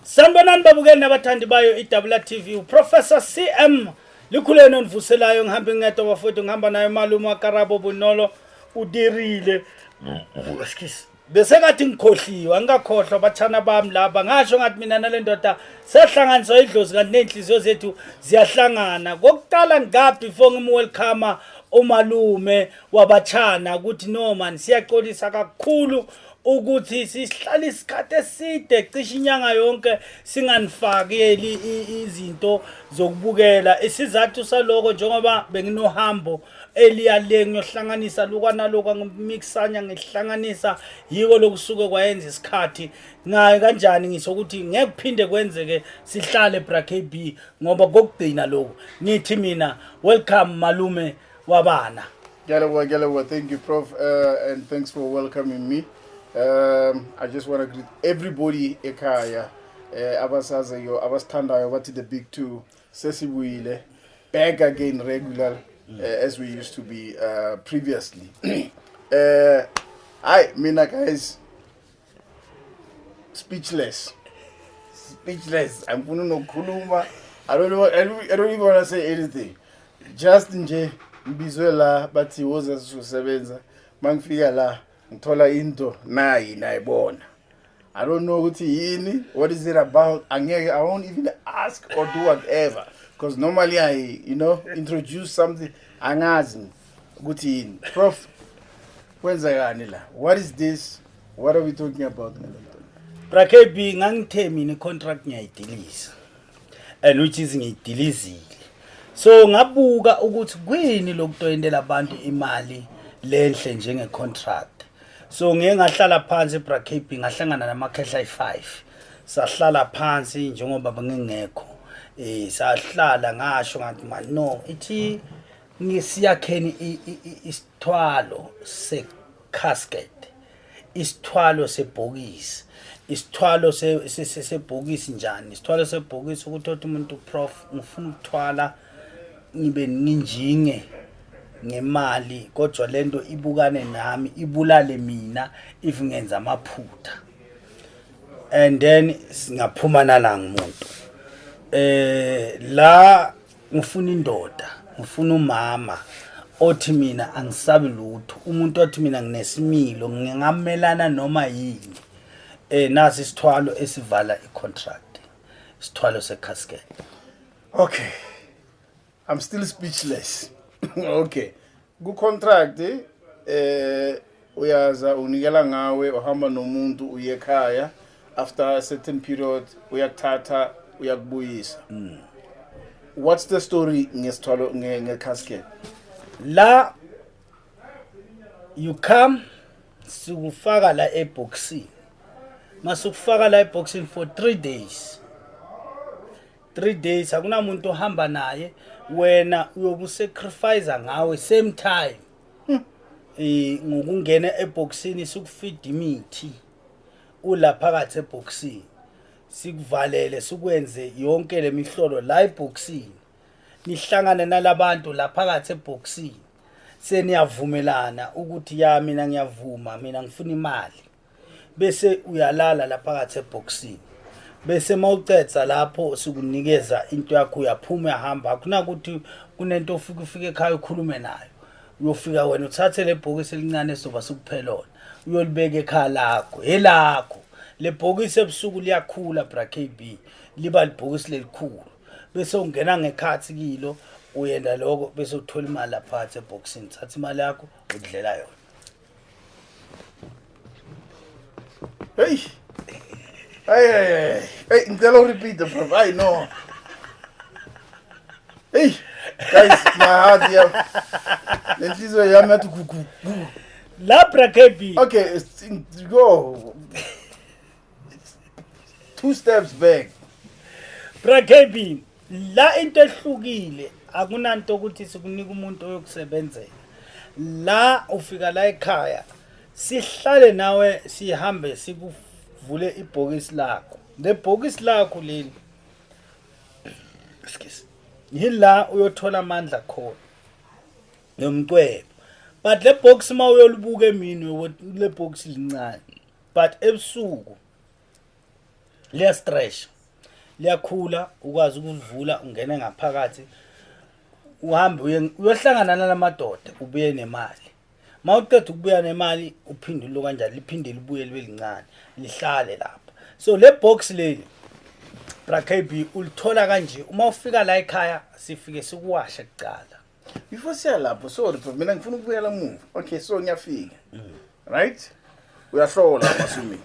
sanibonani babukeli nabathandi bayo idabula tv uprofessor cm likhuleni onivuselayo ngihambe ngedwa bafowethu ngihamba nayo malume wakarabo bunolo udirile excuse bese ngathi ngikhohliwe angikakhohlwa bathana bami laba ngasho ngathi mina nale ndoda sehlanganiswa idlozi kanti ney'nhliziyo zethu ziyahlangana kokuqala ngikaphi before ngimwelcome umalume wabathana ukuthi no mani siyaxolisa kakhulu ukuthi sihlala isikhathi eside cishe inyanga yonke singanifakeli izinto zokubukela isizathu saloko njengoba benginohambo eliya le ngiyohlanganisa luka naloka ngimixanya ngihlanganisa yiko lokusuke kwayenza isikhathi ngaye kanjani ngisho ukuthi ngeke kuphinde kwenzeke sihlale bra KB ngoba kokugcina lokho ngithi mina welcome malume wabana Galawa Galawa thank you prof uh, and thanks for welcoming me um I just want to greet everybody ekhaya eh abasazeyo abasithandayo bathi the big two sesibuyile back again regular uh, as we used to be uh, previously uh, hayi mina guys speechless speechless angifuni nokukhuluma I don't, know, I, don't, I don't even want to say anything just nje ngibizwe la bathi woza sizosebenza mangifika la ngithola into nayi nayibona i don't know ukuthi yini what is it about angeke i won't even ask or do whatever because normally i you know introduce something angazi ukuthi yini prof kwenzekani la what is this what are we talking about ngalento brakb ngangithe mina icontract ngiyayidilisa and which is ngidilizile so ngabuka ukuthi kwini lokutoyintela abantu imali lenhle njenge contract so ngeke ngahlala phansi bra KB ngahlangana namakhehla ayi5 sahlala phansi njengoba bengingekho eh sahlala ngasho ngathi man no ithi ngisiyakheni isithwalo se casket isithwalo sebhokisi isithwalo sebhokisi njani isithwalo sebhokisi ukuthi othi umuntu prof ngifuna ukuthwala ngibe ninjinge ngemali kodwa lento ibukane nami ibulale mina if ngenza amaphutha and then singaphuma nala ngumuntu eh la ngifuna indoda ngifuna umama othi mina angisabi lutho umuntu othi mina nginesimilo ngingamelana noma yini eh nasi isithwalo esivala icontract isithwalo secasket okay i'm still speechless okay Ku contract eh uyaza unikela ngawe uhamba nomuntu uye ekhaya after a certain period uyakuthatha uyakubuyisa mm. what's the story ngesithwalo ngecasket la you come sikufaka la eboxini masukufaka la eboxini for 3 days three days akunamuntu ohamba naye wena uyokusacrifice ngawe same time um ngokungena ebhokisini sikufida imithi ula phakathi ebhokisini sikuvalele sikwenze yonke le mihlolo la ebhokisini nihlangane nalabantu la phakathi ebhokisini seniyavumelana ukuthi ya mina ngiyavuma mina ngifuna imali bese uyalala la phakathi ebhokisini bese mawucetha lapho sikunikeza into yakho uyaphuma uyahamba akunakuthi kunento ofika ufike ekhaya ukhulume nayo uyofika wena uthathe le bhokisi elincane esizoba sikuphelona uyolibeka ekhaya lakho elakho le bhokisi ebusuku liyakhula bra KB liba libhokisi lelikhulu bese ungena ngekhathi kilo uyenda lokho bese uthola imali lapha ebhokisini thatha imali yakho udlela yona Hey. Ay ay ay. Hey, ngicela urepeat bro. Ay no. Hey. Guys, my heart yeah. Lenhliziyo yami yathi gugu. Labra KB. Okay, go. Two steps back. Bra KB. la into ehlukile akunanto ukuthi sikunika umuntu oyokusebenzela la ufika la ekhaya sihlale nawe sihambe sikuvule ibhokisi lakho lebhokisi lakho leli excuse yila uyothola amandla khona nomcwebo but le box uma uyolibuka emini le box lincane but ebusuku liya stretch liyakhula ukwazi ukulivula ungene ngaphakathi uhambe uyohlangana nalamadoda ubuye nemali ma uqeda ukubuya nemali uphinde ulo kanjani liphinde libuye libe lincane lihlale lapha so le box leli brakb ulithola kanje uma ufika la ekhaya sifike sikuwashe kuqala before siya lapho sorry bro mina ngifuna ukubuyela muva okay so ngiyafika right uyahlola masumi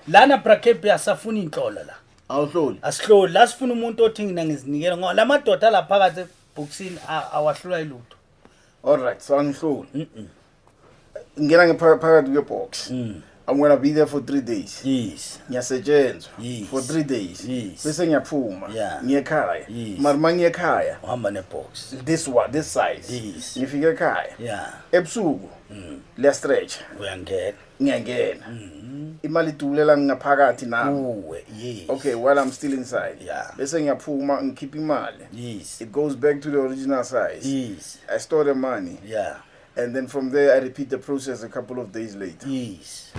lana brakep asafuna inhlolo la awuhloli asihloli la sifuna umuntu othi ngina ngizinikela ngoba la madoda la phakathi ebhokisini a- awahlula ilutho all right so angihloli ngena ngephakathi kwebox mm. I'm gonna be there for three days yes ngiyasetshenzwa yes. for three days yes. bese ngiyaphuma yeah. ngiyekhaya yes. mari ma ngiyekhaya uhamba nebox this one this size yes. ngifike ekhaya yeah. ebusuku mm. liya stretch uyangena ngiyangena mm -hmm. imali idulela ngaphakathi nami uwe yes okay while i'm still inside yeah. bese ngiyaphuma ngikhipha imali yes it goes back to the original size yes i store the money yeah And then from there I repeat the process a couple of days later. Yes.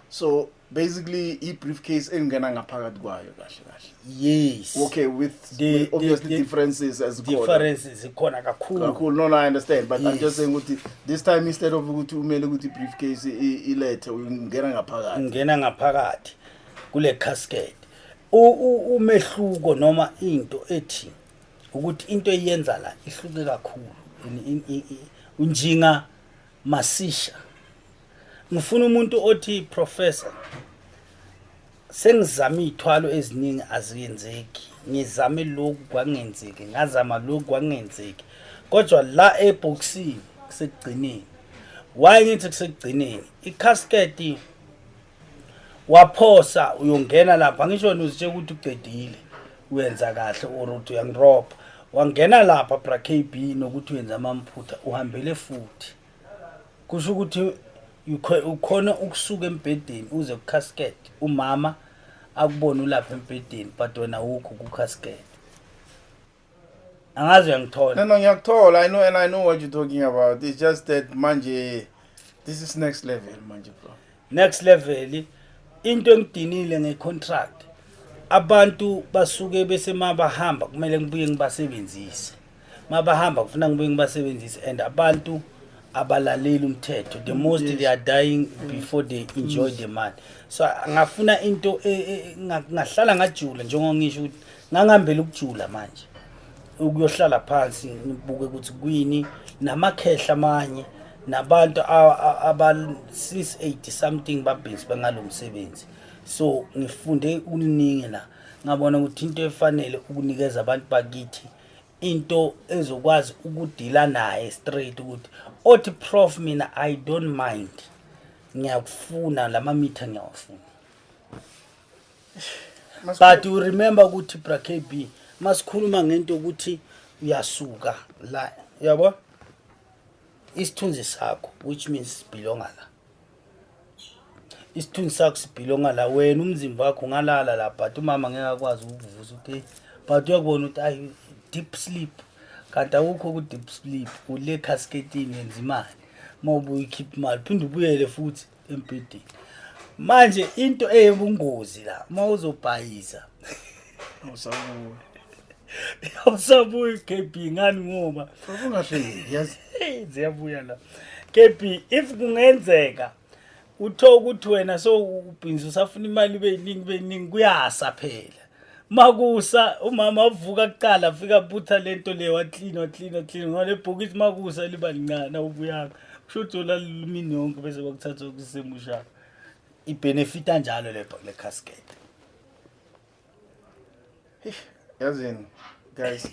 So basically i-briefcase engena ngaphakathi kwayo kahle kahle. Yes. Okay, with the, the obviously the, the differences as khona. Differences zikhona kakhulu. Kakhulu. No, no, I understand, but yes. I'm just saying ukuthi this time instead of ukuthi umele ukuthi briefcase ilethe ungena ngaphakathi. Ungena ngaphakathi kule casket. Umehluko noma into ethi ukuthi into eyenza la ihluke kakhulu unjinga masisha ngifuna umuntu othi professor sengizama iy'thwalo eziningi aziyenzeki ngizame lokhu kwangenzeki ngazama lokhu kwangenzeki kodwa la ebhokisini kusekugcineni why ngithi kusekugcineni ikhasketi waphosa uyongena lapha ngisho wena uzitshela ukuthi uqedile uyenza kahle or uthi uyangiropa wangena lapha bra kb nokuthi uyenza amamphutha uhambele futhi kusho ukuthi ukhona ukusuka embhedeni uze kucasket umama akubona ulapha embhedeni but wena wukho kucasket angazi uyangithola No, no, ngiyakuthola. I know and I know what you're talking about. It's just that manje this is next level manje bro. next level into engidinile ngecontract abantu basuke bese mabahamba kumele ngibuye ngibasebenzise mabahamba kufuna ngibuye ngibasebenzise and abantu abalaleli umthetho the most they are dying before they enjoy the money so ngafuna into e- e- nga- ngahlala ngajula njengoba ngisho ukuthi ngangihambela ukujula manje ukuyohlala phansi ngibuke ukuthi kwini namakhehla amanye nabantu abasis 80 something babhizi bengalo msebenzi so ngifunde uningi la ngabona ukuthi into efanele ukunikeza abantu bakithi into ezokwazi ukudila naye straight ukuthi othi prof mina i don't mind ngiyakufuna lama mitha ngiyawafuna but you remember ukuthi bra kb masikhuluma ngento yokuthi uyasuka la yabo isithunzi sakho which means sibhilonga la isithunzi sakho sibhilonga la wena umzimba wakho ungalala la but umama ngeke akwazi ukuvuza ukuthi but uyakubona ukuthi ayi deep sleep kanti awukho ku-deep sleep ule cascadini yenza imali uma ubuyikhipha imali phinde ubuyele futhi embhedeni manje into eyebungozi la uma uzobhayisa awusabuyi awusabuyi kb ngani ngoba ungahleki yazi ziyabuya la kb if kungenzeka uthola ukuthi wena so ubhinzi usafuna imali ibe yiningi ibe yiningi kuyasa phela makusa umama wavuka kuqala afika butha lento le waklina waklina waklina ngoba lebhokisi makusa liba lincane awubuyanga kusho ukuthi ola lumini yonke bese bakuthatha kusemushaka ibhenefita njalo le le casket yazini guys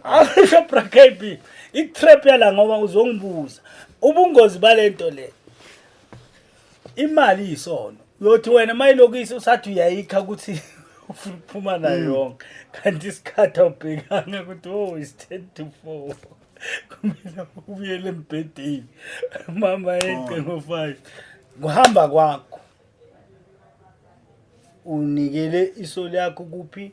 asho brakb i-trap yala ngoba uzongibuza ubungozi balento le imali iyisono uyothi wena mayilokisi usathi uyayikha ukuthi ufuna ukuphuma nayo hmm. yonke kanti isikhathi awubhekanga ukuthi o oh, is ten to four kumele ubuyele embhedeni mama yeqe ngo-five kuhamba kwakho unikele isoli yakho kuphi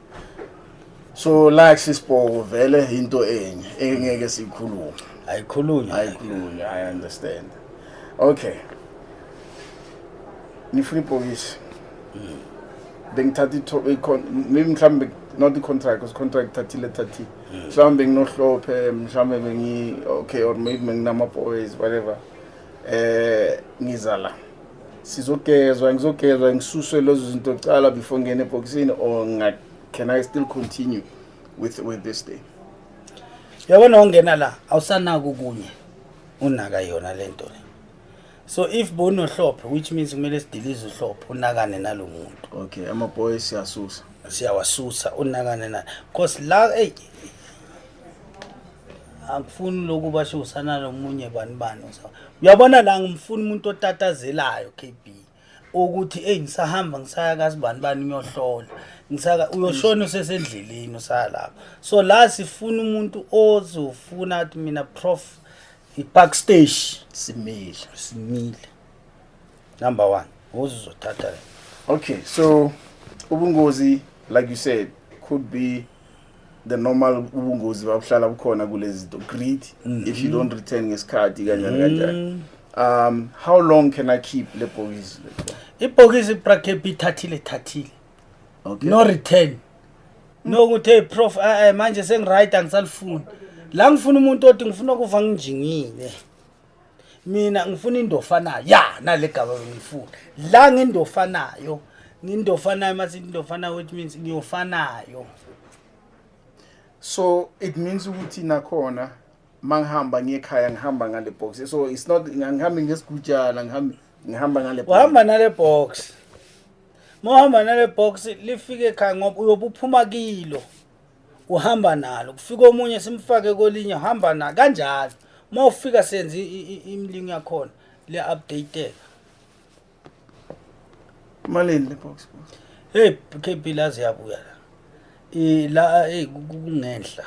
so like sisibhoko vele into enye engeke siyikhulume ayikhulunywa ayikhulunywa i understand okay nifuna ibhokisi hmm. bengithatha mhlawumbe not i-contract because contract thathile thathile hmm. mhlawumbe nginohlophe mhlawumbe bengi okay or maybe benginama-boys whatever eh ngiza la sizogezwa ngizogezwa ngisuswe lezo zinto kuqala before ngene ebhokisini or can i still continue with, with this thing yabona ungena la awusanaki okunye unaka yona le nto le so if bonohlophe which means kumele sidilize uhlophe unakane nalo muntu okay amaboy siyasusa siyawasusa unakane na because la eyi angifuni lokhu basho usana lomunye bani bani uyabona la ngimfuna umuntu otatazelayo KB ukuthi hey ngisahamba ngisaya kazi bani bani uyohlola ngisaka uyoshona usesendleleni usalapha so la sifuna umuntu ozofuna athi mina prof ipark stage simile simile number 1 uzothatha okay so ubungozi like you said could be the normal ubungozi babuhlala bukhona kulezi zinto greed mm -hmm. if you don't return ngesikhathi kanjani kanjani mm. um how long can i keep le bhokisi ibhokisi ibrakebi ithathile ithathile okay. no return mm. no ukuthi hey prof uh, manje sengiright angisalifuni la ngifuna umuntu othi ngifuna ukuva nginjingile mina ngifuna indofanayo ya nalegaba bengifuna la ngindofanayo ngindofanayo mase indofanayo which means ngiyofanayo so it means ukuthi nakhona mangihamba ngekhaya ngihamba ngale box so it's not ngihambi ngesigujana ngihambi ngihamba ngale box uhamba nale box mohamba nale box lifike ekhaya ngoba uyobuphuma kilo uhamba nalo kufika omunye simfake kolinye uhamba na kanjalo uma ufika senze imlingo yakhona le update malini le box hey KP lazi yabuya la eh la hey kungenhla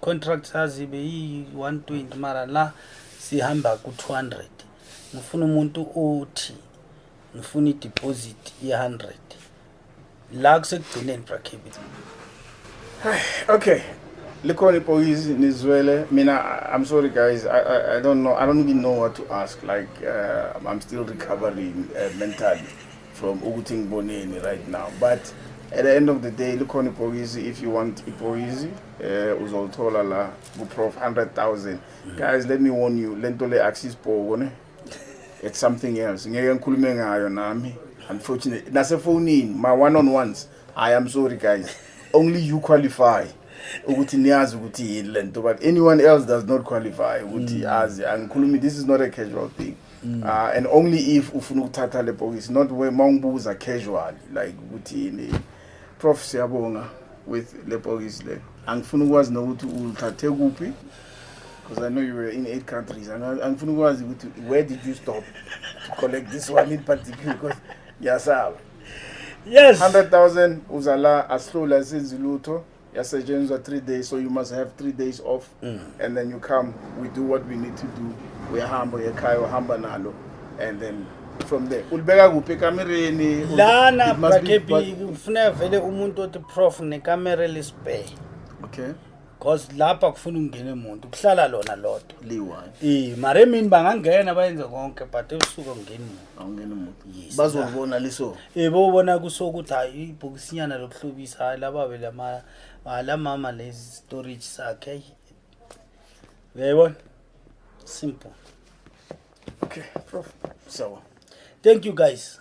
contract sazi be yi 120 mara la sihamba ku 200 ngifuna umuntu othi ngifuna i deposit ye 100 la kusekugcineni brakhibi okay likhona ibhokisi nizwele mina i'm sorry guys I, I, i don't know i don't even know what to ask like uh, i'm still recovering uh, mentally from ukuthi ngiboneni right now but at the end of the day likhona ibhokisi if you want ibhokisi eh uzolithola la ku prof 100000 guys let me warn you lento le axis bhoko ne it's something else ngeke ngikhulume ngayo nami unfortunately nasefonini ma one on ones i am sorry guys only you qualify ukuthi niyazi ukuthi yini lento but anyone else does not qualify ukuthi mm. azi angikhulumi this is not a casual thing mm. uh, and only if ufuna ukuthatha le bhokisi not where mawungibuza casual like ukuthi yini prof siyabonga with le bhokisi le angifuni ukwazi nokuthi ulithathe kuphi Because I know you were in eight countries. And I, I'm from was where did you stop to collect this one in particular? Because yasaba. Yes. 100,000 uzala aslula senzi lutho yasetshenziswa 3 days so you must have 3 days off mm. and then you come we do what we need to do uyahamba uyekhaya uhamba nalo and then from there ulibeka kuphi ekamereni lana brakebi kufuneka vele umuntu othi prof nekamera lisibheke okay cause lapha kufuna ungene muntu kuhlala lona lodwa liyi-one eh mara emini bangangena bayenze konke but ebusuku angeni muntu awungeni muntu Yes, bazolibona liso eh bobona kusokuthi hayi ibhokisinyana lokuhlobisa hayi laba vele ama ah, la mama lezi storage sakhe ayi uyayibona simple okay prof sawa thank you guys